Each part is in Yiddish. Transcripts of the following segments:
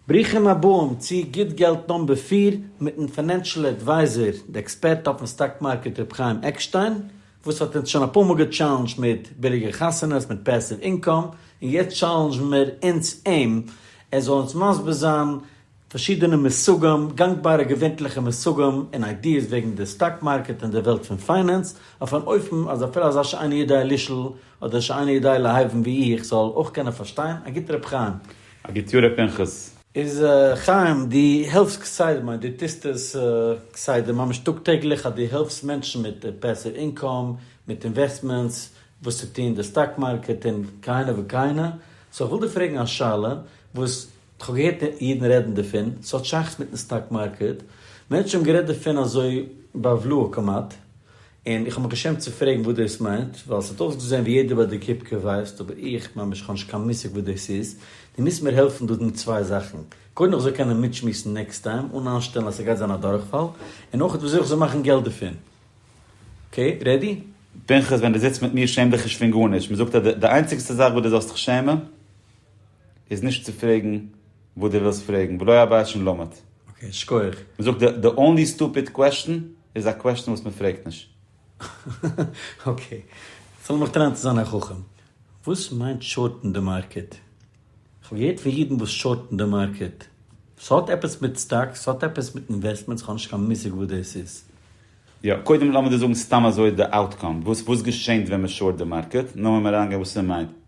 ברוכים הבאים צו גוט געלט נאמבער פֿיר מיטן פינענשעל עדווייזער די עקספערט אויפן סטאק מארקעט ר' חיים עקשטיין וואס האט אונז שוין אפאר מאל געטשאלענדזשט מיט ביליגע חתונות מיט פעסיוו אינקאם און יעצט טשאלענדזשן מיר אונז אים ער זאל אונז מסביר זיין פארשידענע מושגים גאנגבארע געווענטליכע מושגים און איידיעס וועגן די סטאק מארקעט און די וועלט פון פיינענס אויף אן אופן אז אפילו אזא שיינע יודע לשאול אדער שיינע יודע להבין ווי איך זאל אויך קענען פארשטיין א גוטע ר' חיים. א גוט יאר ר' פנחס. איז חיים דו העלפסט כסדר מיינט דו טוסט עס כסדר ממש טאג טעגליך אז דו העלפסט מענטשן מיט פעסיוו אינקאם מיט אינוועסטמענטס וואס צו טון די סטאק מארקעט און כהנה וכהנה סאו איך וויל דיר פרעגן א שאלה וואס כהאב געהערט אידן רעדן דערפון סהאט שייכות מיטן סטאק מארקעט מענטשן האבן גערעדט דערפון אזוי בעוולהה כמעט און איך האב מיך געשעמט צו פרעגן וואס דאס מיינט, ווייל עס האט אויסגעזען ווי יעדער ביי די קופקע ווייסט, אבער איך, ממש איך האב נישט קיין מושג וואס דאס איז, דו מוזט מיר העלפן דא מיט צוויי זאכן, קודם איך זאל קענען מיטשמועסן נעקסט טיים אן אנשט שטעלן אז ס'גייט זיין א דורכפאל, און אויך ווי אזוי איך זאל מאכן געלט דערפון. אקעי? רעדי? פנחס, ווען דו זיצט מיט מיר שעם דיך נישט פון גארנישט, מען זאגט אז די איינציגסטע זאך וואס דו זאלסט זיך שעמען איז נישט צו פרעגן וואס דו ווילסט פרעגן, ולא היה בית שנלמד. אקעי, שכוח. מען זאגט די אנלי סטופיד קוועשטן איז א קוועשטן וואס מען פרעגט נישט. אקעי, סאו לאמיך טרייען צו זיין א חכם. וואס מיינט שארטן די מארקעט? כ'האב געהערט פון אידן וואס שארטן די מארקעט. ס'האט עפעס מיט סטאקס? ס'האט עפעס מיט אינוועסטמענטס? כ'האב נישט קיין מושג וואס דאס איז. יא, קודם לאמיר דיר זאגן סתם אזוי די אוטקאם, וואס געשענט ווען מען שארט די מארקעט, נאר ווען מען אריינגייט וואס ס'מיינט.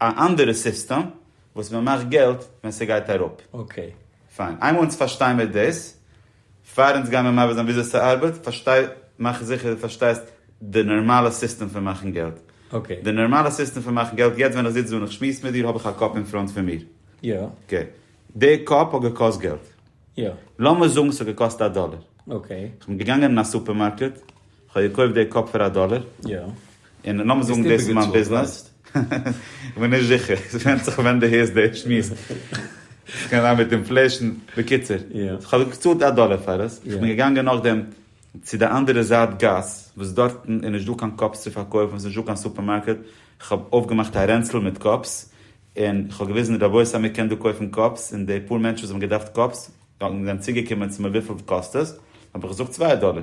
א אנדערע סיסטעם וואס מען מאכט געלט ווען ס'גייט אראפ. אקעי. פיין. איינמאל אונז פארשטיי מיר דאס, פאר אונז גיימיר מעביר זיין וויאזוי ס'ארבעט, פארשטיי, מאך זיכער דו פארשטייסט די נארמאלע סיסטעם פון מאכן געלט. אקעי. די נארמאלע סיסטעם פון מאכן געלט, יעצט ווען איך זיץ דא און איך שמועס מיט דיר האב איך א קאפ אין פראנט פון מיר. יא. אקעי. די קאפ האט געקאסט געלט. יא. לאמיר זאגן ס'האט געקאסט א דאלער. אקעי. כ'בין געגאנגען אין א סופערמארקעט, כ'האב געקויפט די קאפ פאר א דאלער. און לאמיר זאגן דאס איז מיין ביזנעס. כ'בין נישט זיכער. ס'ווענדט זיך ווען דו הערסט די שמועס. ס'קען זיין מיט אינפלעישן. בקיצור. כ'האב געצאלט א דאלער פאר עס. כ'בין געגאנגען נאכדעם צו די אנדערע זייט גאס, וואס דארטן איז נישטא קיין קאפס צו פארקויפן, ס'נישטא קיין סופערמארקעט. כ'האב אויפגעמאכט א רענצל מיט קאפס. און כ'האב געוויזן, רבותי אז מ'קען דא קויפן קאפס. און די פאר מענטשן וואס האבן געדארפט קאפס, זענען צוגעקומען צו מיר וויפיל קאסט עס. האב איך געזאגט צוויי דאלער.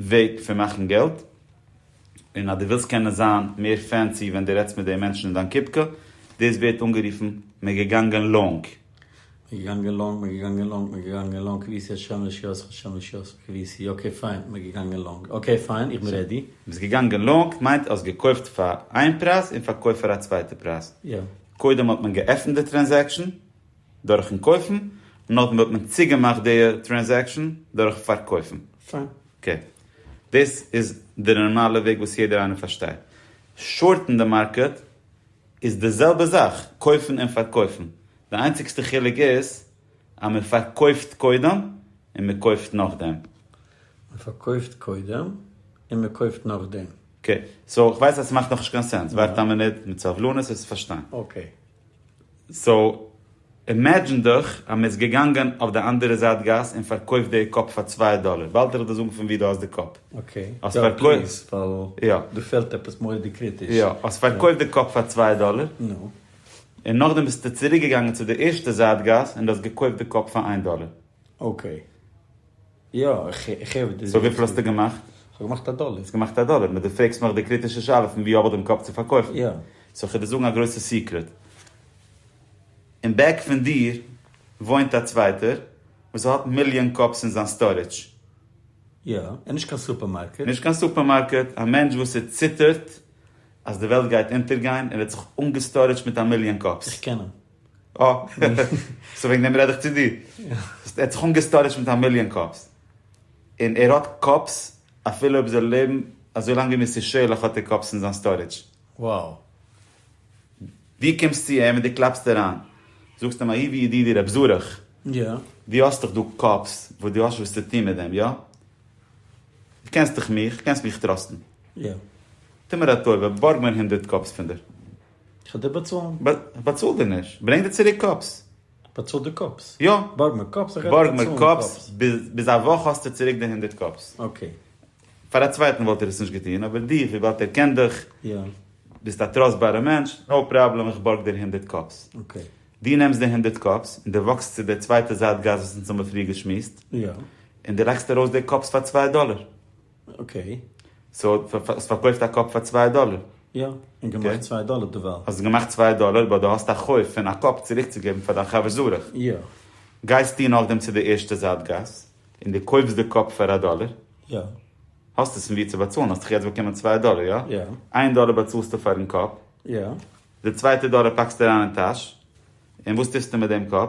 וועג פון מאכן געלט, און אז דו ווילסט קענען זיין מער פענסי ווען דו רעדסט מיט די מענטשן אין דיין קופקע, דאס ווערט אנגערופן מען געגאנגען לאנג. מען געגאנגען לאנג, מען געגאנגען לאנג, מען געגאנגען לאנג, כפי ש השם לשיעורך השם לשיעורך כפי ש אקעי פיין, מען געגאנגען לאנג, אקעי פיין, איך בין רעדי. ביסט געגאנגען לאנג מיינט האסט געקויפט פאר איין פרייז און פארקויפט פאר א צווייטע פרייז. יא. קודם האט מען געעפנט די טרענזעקשאן. דורכן קויפן, נאכדעם וועט מען צוגעמאכט די טרענזעקשן דורך פארקויפן. פיין. אקעי. דאס איז די נארמאלע וועג וואס יעדער איינער פארשטייט. שארטן די מארקעט איז די זעלבע זאך, קויפן און פארקויפן. די איינציגסטע חילוק איז אז מען פארקויפט קודם און מען קויפט נאכדעם. מען פארקויפט קודם און מען קויפט נאכדעם. אקעי. סאו איך ווייס אז ס'מאכט נאכנישט קיין סענס. ווארט א מינוט מיט סבלנות וועסטו פארשטיין. אקעי. סאו אימעדזשין דיך אז מ'איז געגאנגען אויף די אנדערע זייט גאס און פארקויפט די קאפ פאר צוויי דאלער, באלד וועל איך דיר זאגן פון ווי דו האסט די קאפ. אקעי, יא פליז, ווייל דא פעלט עפעס מורא'דיג קריטיש. יא, האסט פארקויפט די קאפ פאר צוויי דאלער. נו. און נאכדעם ביסטו צוריקגעגאנגען צו די ערשטע זייט גאס און דו האסט געקויפט די קאפ פאר איין דאלער. אקעי. יא, איך הער וואס דו זאגסט. סאו וויפיל האסטו געמאכט? כ'האב געמאכט א דאלער. האסט געמאכט א דאלער, נו דו פרעגסט מיך די קריטישע שאלה פון ווי האב איך דעם קאפ צו פארקויפן? יא. סאו כ'וועל דיר זאגן א גרויסע סיקרעט. אין בעק פון דיר וואוינט א צווייטער וואס ער האט מיליאן קאפס אין זיין סטארעדזש. יא, און נישט קיין סופערמארקעט. נישט קיין סופערמארקעט, א מענטש וואס ער ציטערט אז די וועלט גייט אונטערגיין, ער האט זיך אנגעסטארעדזשט מיט א מיליאן קאפס. איך קען אים. אה, סאו וועגן דעם רעד איך צו דיר. ער האט זיך אנגעסטארעדזשט מיט א מיליאן קאפס. און ער האט קאפס אפילו אויב זיי לעבן אזוי לאנג ווי מיר ס'איז שערליך האט ער קאפס אין זיין סטארעדזש. Wow. דו קומסט צו אים און דו קלאפסט אריין. זאגסט אים אהיבי ידידי רעב זארעך. יא. דו האסט דאך דא קאפס וואס דו האסט שוין וואס צו טון מיט דעם, יא? דו קענסט דאך מיך, קענסט מיך טראסטן. יא. טו מיר א טובה, בארג מיר הונדערט קאפס פון דיר. כ'על דיר באצאלן. באצאל דיר נישט. ברענג דיר צוריק קאפס. באצאל דיר קאפס? יא. בארג מיר קאפס איך וועל דיר באצאלן קאפס. בארג מיר קאפס. ביז א וואך האסטו צוריק די הונדערט קאפס. אקעי. פאר א צווייטן וואלט ער עס נישט געטון, אבער דיר, וויבאלד ער קען דיך, ביסט א טראסטבארע מענטש, נאו פראבלעם איך בארג דיר הונדערט קאפס. אקעי. דו נעמסט די הונדערט קאפס, און דו וואקסט צו די צווייטע זייט גאס וואס אונז האבן פריער געשמועסט, און דו לייגסט ארויס די קאפס פאר צוויי דאלער. אקעי. סאו האסט פארקויפט א קאפ פאר צוויי דאלער. יא, און געמאכט צוויי דאלער דערווייל. האסט געמאכט צוויי דאלער באט דו האסט א חוב פון א קאפ צוריקצוגעבן פאר דיין חבר זרח. יא. גייסטו נאכדעם צו די ערשטע זייט גאס און דו קויפסט די קאפ פאר א דאלער. יא. האסט עס פון וואו צו באצאלן, האסט דאך יעצט באקומען צוויי דאלער, יא? יא. איין דאלער באצאלסטו פארן קאפ. יא. די צווייטע דאלער פאקסטו אריין אין טאש. און וואס טוסטו מיט דעם קאפ?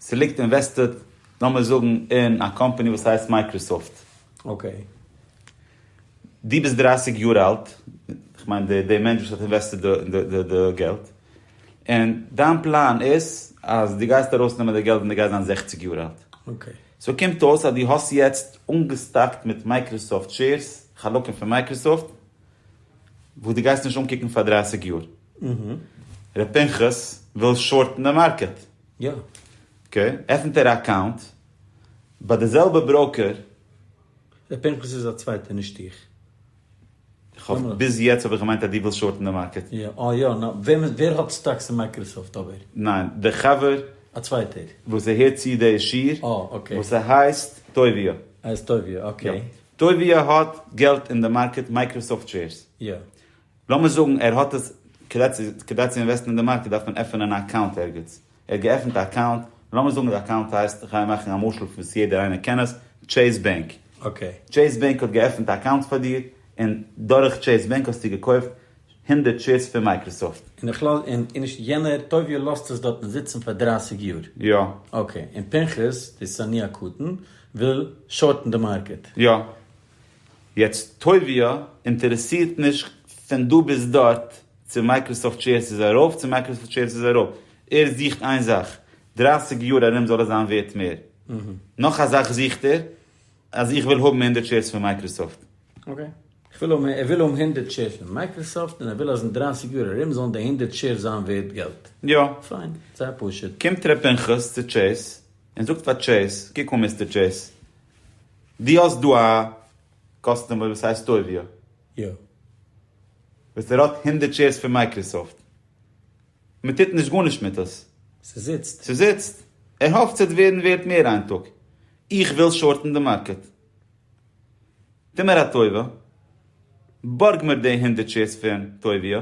ס'ליגט אינוועסטעד, לאמיר זאגן, אין א קאמפאני וואס הייסט מייקראסאפט. אקעי. דו ביסט דרײַסיק יאר אלט, כ'מיין די די מענטש וואס האט אינוועסטעד די די די געלט, און דיין פלאן איז אז דו גייסט ארויסנעמען די געלט ווען דו גייסט זיין זעכציק יאר אלט. אקעי. סאו קומט אויס אז דו האסט יעצט אנגעסטאקט מיט מייקראסאפט שעירס, חלקים פון מייקראסאפט, וואס דו גייסט נישט אנקוקן פאר דרייסיג יאר. ר' פנחס וויל שארטן די מארקעט. אקעי, עפנט ער א אקאונט ביי די זעלבע בראוקער. ר' פנחס איז א צווייטער נישט איך. ביז יעצט האב איך געמיינט אז דו ווילסט שארטן די מארקעט. אה יא, ווער האט סטאקס אין מייקראסאפט אבער? ניין, די חבר. א צווייטער. וואס ער הערט צו די שיר. אה אקעי. וואס ס'הייסט טובי'. ער הייסט טובי', אקעי. טובי' האט געלט אין די מארקעט מייקראסאפט שעירס? יא. לאמיר זאגן ער האט עס, כדי צו כדי צו אינוועסטן אין די מארקעט דארף מען עפענען א אקאונט ערגעץ, ער האט געעפנט א אקאונט, לאמיר זאגן די אקאונט הייסט, איך גיי מאכן א משל וואס יעדער איינער קען עס, טשעיס בענק. אקעי. טשעיס בענק האט געעפנט א אקאונט פאר דיר, און דורך טשעיס בענק האסטו געקויפט הונדערט שעירס פון מייקראסאפט. און איך לאז און און נישט יענער טובי' לאזט עס דארטן זיצן פאר דרייסיג יאר. יא. אקעי. און פנחס די שונא הקטן וויל שארטן די מארקעט. יא. יעצט טובי' אינטערעסירט נישט פון דא ביז דארט צו מייקראסאפט שעירס איז ארויף צו מייקראסאפט שעירס איז אראפ. ער זוכט איין זאך, דרייסיג יאר ארום זאל עס זיין ווערט מער. נאך א זאך זוכט ער, אז איך וויל האבן הונדערט שעירס פון מייקראסאפט. אקעי. כ'וויל האבן, ער וויל האבן הונדערט שעירס פון מייקראסאפט און ער וויל אז אין דרייסיג יאר ארום זאלן די הונדערט שעירס זיין ווערט געלט. יא. פיין. זייער פשוט. קומט ר' פנחס צו טשעיס און זאגט פאר טשעיס, קוק אן מיסטער טשעיס, דו האסט דא א קאסטומער וואס הייסט טוביה. יא. וואס ער האט הונדערט שעירס פון מייקראסאפט. מען טוט נישט גארנישט מיט עס. ס'זיצט. ס'זיצט. ער האפט ס'וועט ווערן ווערט מער איין טאג. איך וויל שארטן די מארקעט. טו מיר א טובה, בארג מיר די הונדערט שעירס פון טובי',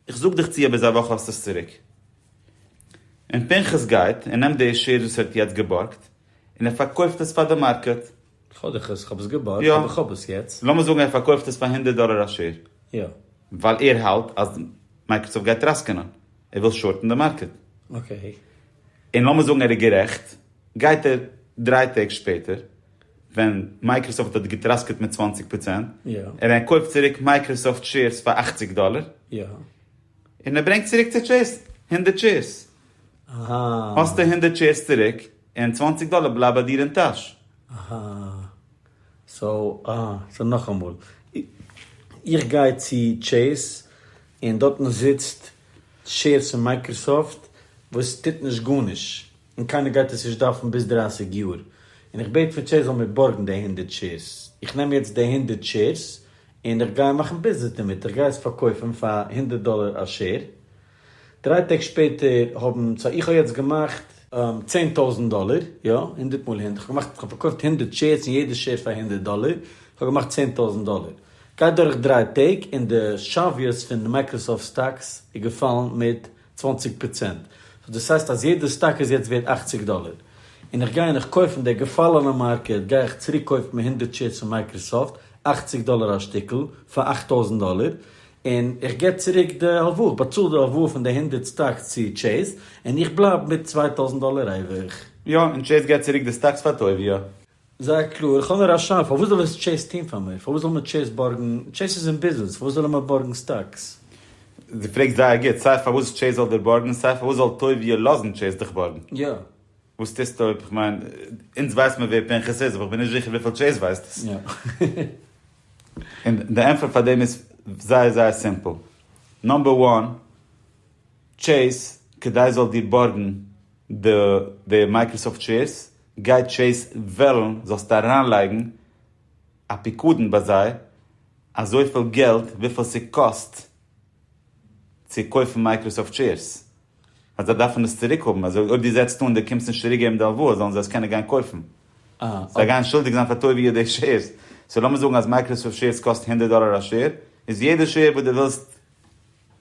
איך זאג דיך צו אויב ביז א וואך האסטו עס צוריק. און פנחס גייט און נעמט די שעירס וואס ער האט יעצט געבארגט, און ער פארקויפט עס פאר די מארקעט. כ'האב דיך עס, כ'האב עס געבארגט, אבער כ'האב עס יעצט. לאמיר זאגן ער פארקויפט עס פאר הונדערט דאלער א שעיר. יא. ווייל ער האלט אז מייקראסאפט גייט טראסקענען, ער וויל שארטן די מארקעט. אקעי. און לאמיר זאגן ער איז גערעכט. גייט ער דריי טעג שפעטער ווען מייקראסאפט האט געטראסקעט מיט צוואַנציק פראצענט און ער קויפט צוריק מייקראסאפט שעירס פאר אַכציק דאלער און ער ברענגט צוריק צו טשעיס הונדערט שעירס. האסטו הונדערט שעירס צוריק און צוואַנציק דאלער בלייבט ביי דיר אין טאש. אהא. סאו אה. סאו נאכאמאל. איך גיי צו טשעיס און דארטן זיצט שעירס פון מייקראסאפט וואס טוט נישט גארנישט. און קיינער גייט עס נישט דארפן ביז דרייסיג יאר, און איך בעט פון טשעיס זאל מיר בארגן די הונדערט שעירס, איך נעם יעצט די הונדערט שעירס און איך גיי מאכן ביזנעס דערמיט, איך גיי עס פארקויפן פאר הונדערט דאלער א שעיר, דריי טעג שפעטער האבן, סא איך האב יעצט געמאכט. צען טויזנט דאלער, יא, הונדערט מאל הונדערט, איך האב געמאכט, איך האב פארקויפט הונדערט שעירס און יעדע שעיר פאר הונדערט דאלער, איך האב געמאכט צען טויזנט דאלער, גייט דורך דריי טעג און די שוויות פון די מייקראסאפט סטאקס איז געפאלן מיט צוואנציג פראצענט, סאו דאס הייסט אז יעדע סטאק איז יעצט ווערט אכציג דאלער, און איך גיי און איך קויף אין די געפאלענע מארקעט גיי איך צוריק קויפן מיט הונדערט שעירס פון מייקראסאפט, אכציג דאלער א שטיקל, פאר אכט טויזנט דאלער, און איך געב צוריק די הלוואה, איך באצאל די הלוואה פון די הונדערט סטאקס צו טשעיס, און איך בלייב מיט צוויי טויזנט דאלער אייביג. יא, און טשעיס געט צוריק די סטאקס פאר טויביה. זייער קלאר, איך האב נאר א שאלה, פארוואס זאל עס טשעיס טוהן פאר מיר? פארוואס זאל מיר טשעיס בארגן? טשעיס איז אין ביזנעס, פארוואס זאלן מיר בארגן סטאקס? די פרעגסט זייער גוט, סיי פארוואס טשעיס זאל דיר בארגן, סיי פארוואס זאל טויביע לאזן טשעיס דיך בארגן. יא. וואס טוסטו אויב, איך מיין, אונז ווייסט מיר ווער פנחס איז, אבער איך בין נישט זיכער וויפיל טשעיס ווייסט עס. יא. און די ענטפער פאר דעם איז זייער זייער סימפל. נאמבער וואן, טשעיס, כדי זאל דיר בארגן, די די מייקראסאפט שעירס, גייט טשעיס וועלן זאלסטו אריינלייגן א פיקדון ביי זיי, אזויפיל געלט וויפיל ס'קאסט צו קויפן מייקראסאפט שעירס, אז זיי דארפן עס צוריק האבן, אז אויב דו זעצט אן דו קומסט נישט צוריק געבן די הלוואה זאלן זיי עס קענען גיין קויפן, זיי גייען שולדיג זיין פאר טובי' די שעירס, סאו לאמיר זאגן אז מייקראסאפט שעירס קאסט הונדערט דאלער א שעיר, איז יעדע שעיר וואס דו ווילסט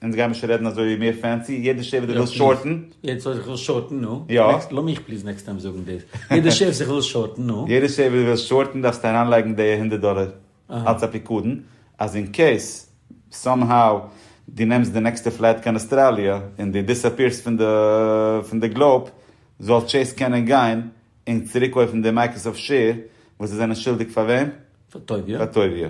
אונז גיימיר שוין רעדן אזוי מער פענסי, יעדער שעף וואס די ווילסט שארטן. יעדער שעף וואס איך וויל שארטן, נו. יא. לאז מיך פליז נעקסט טיים זאגן דאס. יעדער שעף וואס איך וויל שארטן, נו. יעדער שעף וואס די ווילסט שארטן דארפסטו אריינלייגן די הונדערט דאלער אלץ א פיקדון, אז אין קעיס סאם האו דו נעמסט די נעקסטע פלייט קיין אוסטראליע און דו דיסאפיערסט פון די פון די גלאוב, זאל טשעיס קענען גיין און צוריקקויפן די מייקראסאפט שעיר וואס זיי זענען שולדיג פאר וועם? פאר טויביע. פאר טויביע.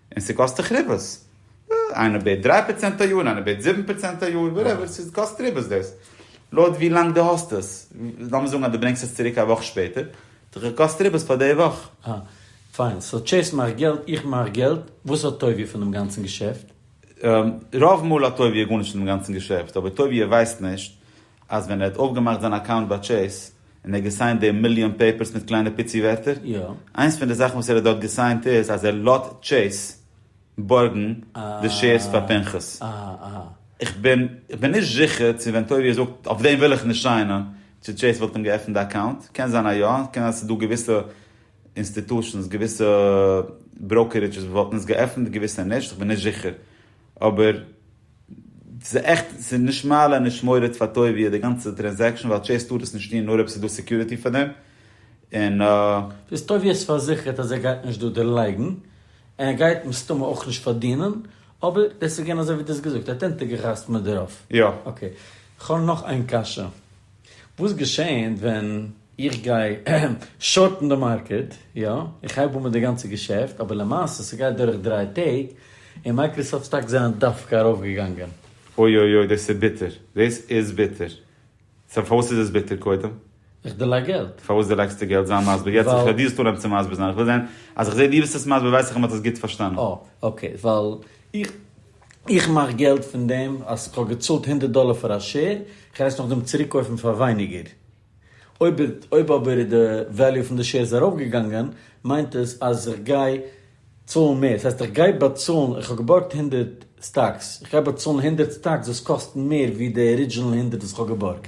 און ס'קאסט דיך ריבית. איינער בעט דריי פראצענט א יאר, איינער בעט זיבן פראצענט א יאר, וואטעווער, ס'קאסט ריבית דאס. לויט ווי לאנג דו האסט עס. לאמיר זאגן אז דו ברענגסט עס צוריק א וואך שפעטער, האט דיך געקאסט ריבית פאר די וואך. אה, פיין. סאו טשעיס מאכט געלט, איך מאך געלט, וואס האט טויביע פון דעם גאנצן געשעפט? רוב מאל האט טויביע גארנישט פון דעם גאנצן געשעפט, אבער טויביע ווייסט נישט אז ווען ער האט אויפגעמאכט זיין אקאונט ביי טשעיס, און ער האט געסיינט די מיליאן פעיפערס מיט קליינע פיצי ווערטער? יא. איינס פון די זאכן וואס ער האט דארט געסיינט איז אז ער לאט טשעיס בארגן די שעירס פאר פנחס. איך בין נישט זיכער צו ווען טובי' זאגט אויף דעם וויל איך נישט סיינען צו טשעיס וואלט אים געעפנט די אקאונט. קען זיין א יא, קען זיין אז ס'איז דא געוויסע אינסטיטושענס, געוויסע בראוקערידזשעס וואס וואלטן עס געעפנט, געוויסע נישט, איך בין נישט זיכער. אבער. ס'איז עכט, ס'איז נישט מעלה נישט מוריד פאר טובי' די גאנצע טרענזעקשן ווייל טשעיס טאר עס נישט טון נאר אויב ס'איז דא סעקיוריטי פאר דעם און. ביז טובי' איז פארזיכערט אז ער גייט נישט דא דערלייגן און ער גייט מסתמא אויך נישט פארדינען אבער דאס איז געווען אזוי ווי דו האסט געזאגט ער האט אונטערגעחתמ'עט דערויף. יא. אקעי. כ'האב נאך איין קשיא. וואס געשעהנט ווען איך גיי שארטן די מארקעט, יא, איך הייב אן מיט די גאנצע געשעפט, אבער למעשה ס'גייט דורך דריי טעג, און מייקראסאפט סטאקס זענען דווקא ארויפגעגאנגען. אוי אוי אוי דאס איז ביטער. דאס איז ביטער. סא פארוואס איז עס ביטער קודם? איך דערלייג געלט. פארוואס דערלייגסט דו געלט? זיי מסביר יעצט, איך הער דיר סתם עפעס צו מסביר זיין, איך וויל זען אז איך זעה דו ביסט עס מסביר ווייס איך אז מ'האט עס גוט פארשטאנען. אה אקעי, ווייל איך איך מאך געלט פון דעם אז כ'האב געצאלט הונדערט דאלער פאר א שער, כ'גיי עס נאכדעם צוריקקויפן פאר ווייניגער. אויב אויב אבער איז די וועליו פון די שערס ארויפגעגאנגען, מיינט עס אז איך גיי צאלן מער. דאס הייסט איך גיי באצאלן, איך האב געבארגט הונדערט סטאקס, איך גיי באצאלן הונדערט סטאקס וואס קאסטן מער ווי די ארידזשינעל הונדערט וואס כ'האב געבארגט.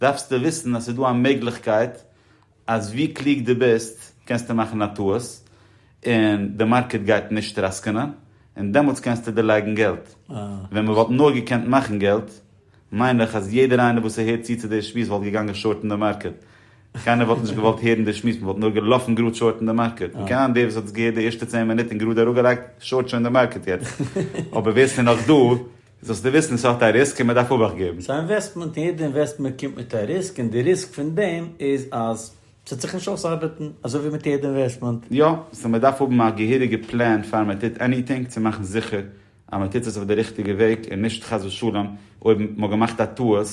דארפסטו וויסן אז ס'איז דא א מעגליכקייט אז ווי קלוג דו ביסט קענסטו מאכן א טעות און די מארקעט גייט נישט טראסקענען און דעמאלטס קענסטו דערלייגן געלט. ווען מען וואלט נאר געקענט מאכן געלט מיין איך אז יעדער איינער וואס ס'הערט צו צו די שמועס וואלט געגאנגען שארטן די מארקעט. קיינער וואלט נישט געוואלט הערן די שמועס, מען וואלט נאר געלאפן גראד שארטן די מארקעט. און כהיום דער וואס האט עס געהערט די ערשטע צען מינוט און גראד אראפגעלייגט שארט שוין די מארקעט יעצט. אבער ווער ס'איז נאך דא איז זאלסטו וויסן עס האט א ריסק און מען דארף אבאכט געבן. ס'איז א אינוועסטמענט און יעדע אינוועסטמענט קומט מיט א ריסק און די ריסק פון דעם איז אז ס'וועט זיך נישט אויסארבעטן, אזוי ווי מיט יעדע אינוועסטמענט. יא, סאו מען דארף האבן א געהעריגע פלען פאר מען טוט עניטינג צו מאכן זיכער אז מען טוט עס אויף די ריכטיגע וועג און נישט חס ושלום אויב מען האט געמאכט א טעות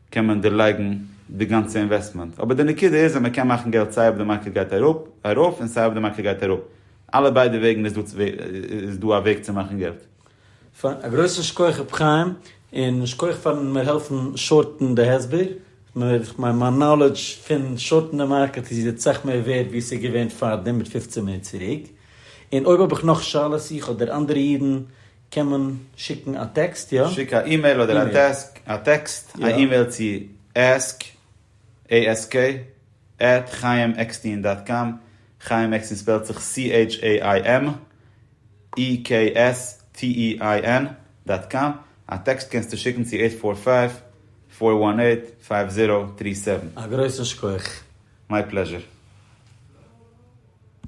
קען מען דערלייגן די גאנצע אינוועסטמענט, אבער די נקודה איז אז מען קען מאכן געלט סיי אויב די מארקעט גייט אראפ ארויף און סיי אויב די מארקעט גייט אראפ, אלע ביידע וועגן איז דא א וועג צו מאכן געלט. א גרויסן שכח רבי חיים, און שכח פארן מיר העלפן שארטן די הסבר, איך מיין מיין נאלעדזש פון שארטן די מארקעט איז יעצט סאך מער ווערד ווי עס איז געווען פארדעם מיט פופצן מינוט צוריק, און אויב האב איך נאך שאלות איך אדער אנדערע אידן קען מען שיקן א טעקסט יא? שיק א אימעיל אדער א טעקסט, א אימעיל צו ask. ASK, עט חיים עקסטין דאט קאם, חיים עקסטין ספעלט זיך CHAIM EKSTEIN דאט קאם, א טעקסט קענסטו שיקן צו עיט פאר פייוו, פאר וואן עיט, פייוו זירא, טרי סעווען. א גרויסן שכח. מיי פלעזשער.